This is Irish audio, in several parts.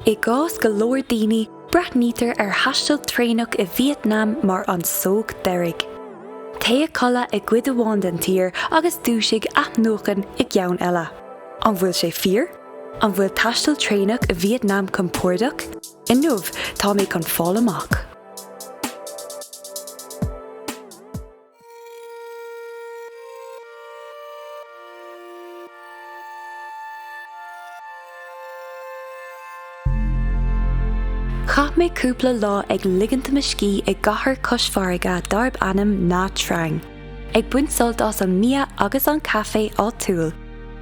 I gcás go leor daoine, breathnaítear ar thaisteal traenach i Vietnam mar an sógh deiridh. Téigh a chodladh i gcuid amháin den tír agus dúisigh athnuaite i gceann eile. An bhfuil sé fíor? An bhfuil taisteal traenach i Vietnam compordach? Inniu tá mé chun fáil amach. Chaith mé cúpla lá ag ligint mo scíth i gcathair cois farraige darb ainm Nha Trang, ag baint sult as an mbia agus an caife áitiúil.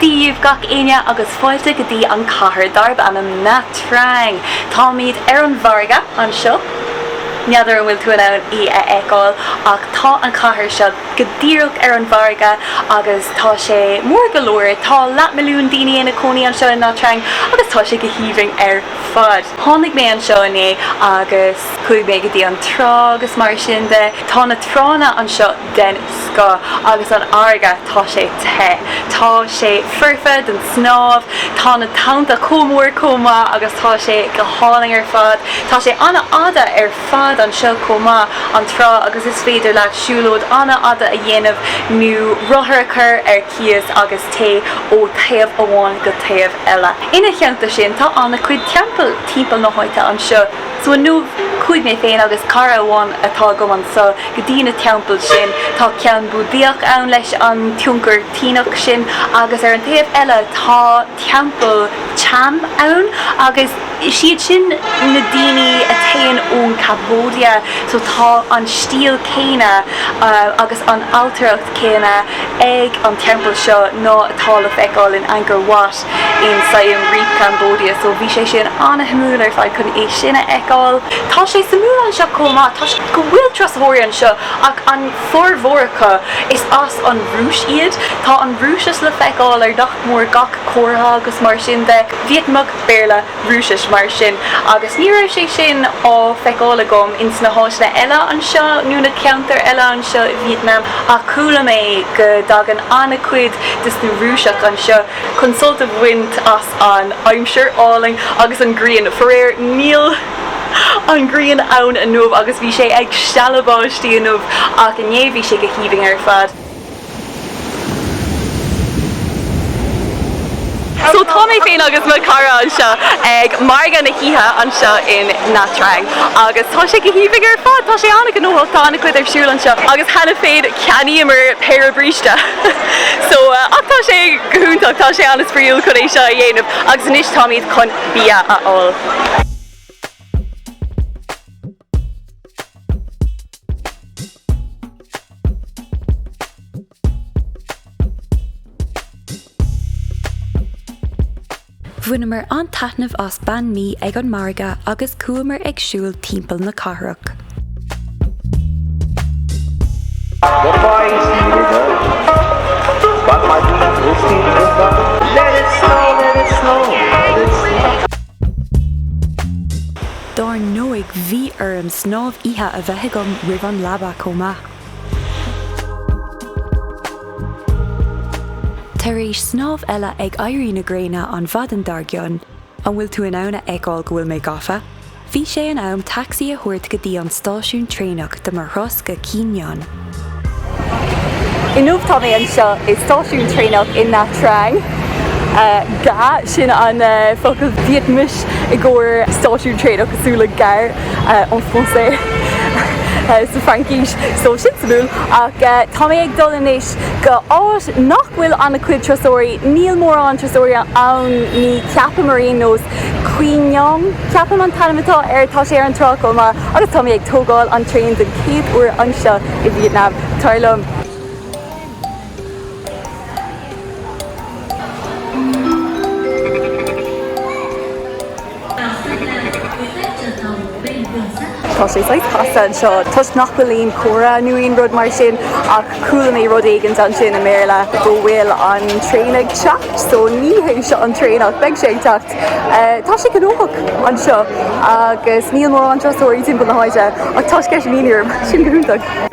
Dia dhaoibh gach éinne agus fáilte go dtí an cathair darb ainm Nha Trang. Táimíd ar an bhfarraige anseo. N'fheadar an bhfuil tú in ann í a fheiceáil ach tá an cathair seo go díreach ar an bhfarraige agus tá sé mór go leor. Tá leathmilliún daoine ina cónaí anseo i Nha Trang agus tá sé go haoibhinn ar fad. Tháinig mé anseo inné agus chuaigh mé go dtí an trá agus mar sin de. Tá na tránna anseo. den scoth agus an fharraige tá sé te. Tá sé foirfe don snámh. Tá na tonnta chomh mór chomh maith agus tá sé go hálainn ar fad. Tá sé an-fhada ar fad anseo chomh maith, an trá, agus is féidir leat siúlóid an-fhada a dhéanamh nó rothar a chur ar cíos agus téigh ó thaobh amháin go taobh eile. Ina theannta sin tá an-chuid teampaill timpeall na háite anseo. So inniu chuaigh mé féin agus cara amháin atá agam anso go dtí na teampaill sin. Tá ceann Búdaíoch ann leis an tionchar tSíneach sin agus ar an taobh eile tá teampall Cham ann agus siad sin na daoine a thagann ón Cambodia so tá an stíl céanna agus an ailtireacht céanna ag an teampall seo ná atá le feiceáil in Angkor Wat. In Siem Reap Cambodia so bhí sé sin an-shuimiúil ar fad chun é sin a fheiceáil. Tá sé suimiúil anseo chomh maith toisc go bhfuil turasóirí anseo ach an formhór acu is as an Rúis iad. Tá an Rúisis le feiceáil ar nach mór gach comhartha agus mar sin de. Vítneamais, Béarla, Rúisis mar sin agus ní raibh sé sin á feiceáil agam ins na háiteanna eile anseo nó na ceantair eile anseo i Vítneam ach chuala mé go dtagann an-chuid des na Rúiseach anseo chun sult a bhaint as an aimsir álainn agus an ghrian, faraor níl an ghrian ann inniu agus bhí sé ag stealladh báistí inniu ach inné bhí sé go haoibhinn ar fad. So tá mé féin agus mo chara anseo ag margadh na hoíche anseo i Nha Trang agus tá sé go haoibhinn ar fad. Tá sé an-ghnóthach, tá an-chuid ar siúl anseo agus cheana féin cheannaíomar péire bríste. So ach tá sé go hiontach, tá sé an-spraíúil chun é seo a dhéanamh agus anois táimid chun bia a fháil. Bhaineamar an-taitneamh as bánh mì ag an margadh agus chuamar ag siúl timpeall na cathrach. Dar ndóigh bhí orm snámh oíche a bheith agam roimh an leaba chomh maith. Tar éis snámh eile ag éirí na gréine an mhaidin dár gcionn, an bhfuil tú in ann a fheiceáil go bhfuil mé gafa? bhí sé in am taxi a thabhairt go dtí an stáisiún traenach do mo thuras go Quy Nhon. Inniu tá mé anseo i stáisiún traenach i Nha Trang. Ga, sin an focal Vietnamese i gcomhair stáisiún traenach, cosúil le gare en français sa Fraincis, so sin suimiúil. Ach tá mé ag dul anois go áit nach bhfuil an-chuid turasóirí, níl mórán turasóirí ann ní cheapaim ar aon nós. Quy Nhon, ceapaim an t-ainm atá air, tá sé ar an trá chomh maith agus tá mé ag tógáil an traein den chéad uair anseo i Vietnam, tar liom. Tá sé saghas casta anseo toisc nach bhfuil aon comhartha nó aon rud mar sin ach chuala mé rud éigint ansin i mBéarla go bhfuil an traein ag teacht so ní hé seo an traein ach beidh sé ag teacht. Tá sé gnóthach anseo agus níl mórán turasóirí timpeall na háite ach tá sceitimíní orm, sin go hiontach!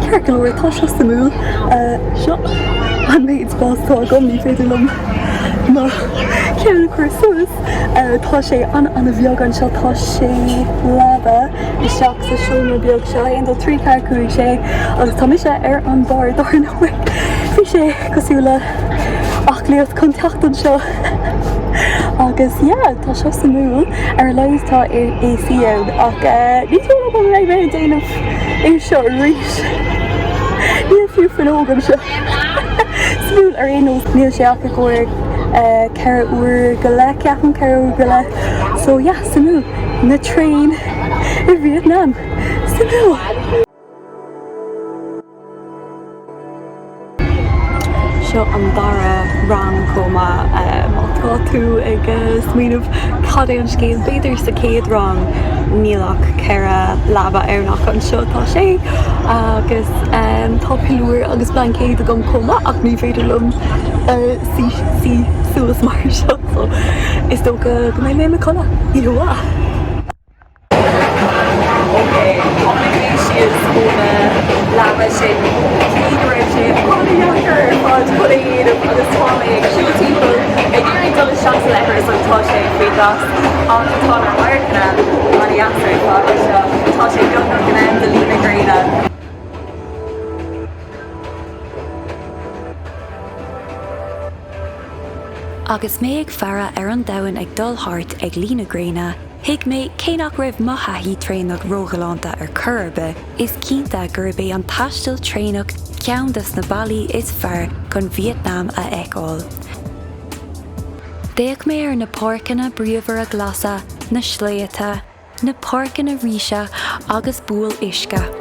Ceart go leor tá seo suimiúil. Seo an méid spás atá agam, ní féidir liom mo cheann a chur suas. Tá sé ana ana bheag anseo, tá sé leaba isteach sa seomra beag seo. Aon dó trí ceathair cúig sé agus tá mise ar an barr dar ndóigh. Bhí sé cosúil le aclaíocht chun teacht anseo. Agus yeah, tá seo suimiúil. Ar a laghad tá AC ann. Ach eh, ní dóigh liom go mbeidh mé ag déanamh é seo arís. Níl fiú fuinneog anseo. Suimiúil ar aon nós, níl sé ach i gcomhair eh, ceithre uair go leith, ceapaim, ceithre uair go leith. So yeah, suimiúil. Na traein i Vietnam. Suimiúil! Seo an dara rang chomh maith. Má tá tú ag smaoineamh cad é an scéal b'fhéidir sa chéad rang níl ach ceithre leaba ann ach anseo tá sé agus tá piliúr agus blaincéad agam chomh maith ach ní féidir liom suí suas mar seo so is dócha go mbeidh mé ag codladh. Yíhuah. Agus mé ag faire ar an domhan ag dul thart ag luí na gréine, Thuig mé, cé nach raibh mo thaithí traenach róghalánta ar chor ar bith, is cinnte gurb é an taisteal traenach ceann des na bealaí is fearr chun Vietnam a fheiceáil. D'fhéach mé ar na páirceanna bríomhara glasa, na sléibhte, na páirceanna ríse agus buabhaill uisce.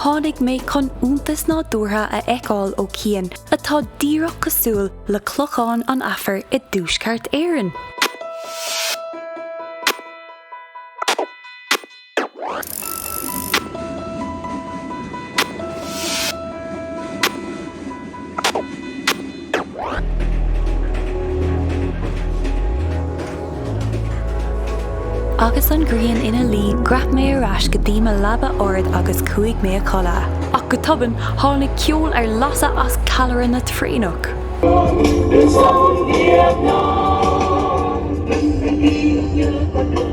Tháinig mé chun iontas nádúrtha a fheiceáil ó chian atá díreach cosúil le Clochán an Aifir i dTuaisceart Éireann. Agus an ghrian ina luí dhreap mé ar ais go dtí mo leaba ard agus chuaigh mé a chodladh. Ach go tobann tháinig ceol ar lasadh as callaire na traenach.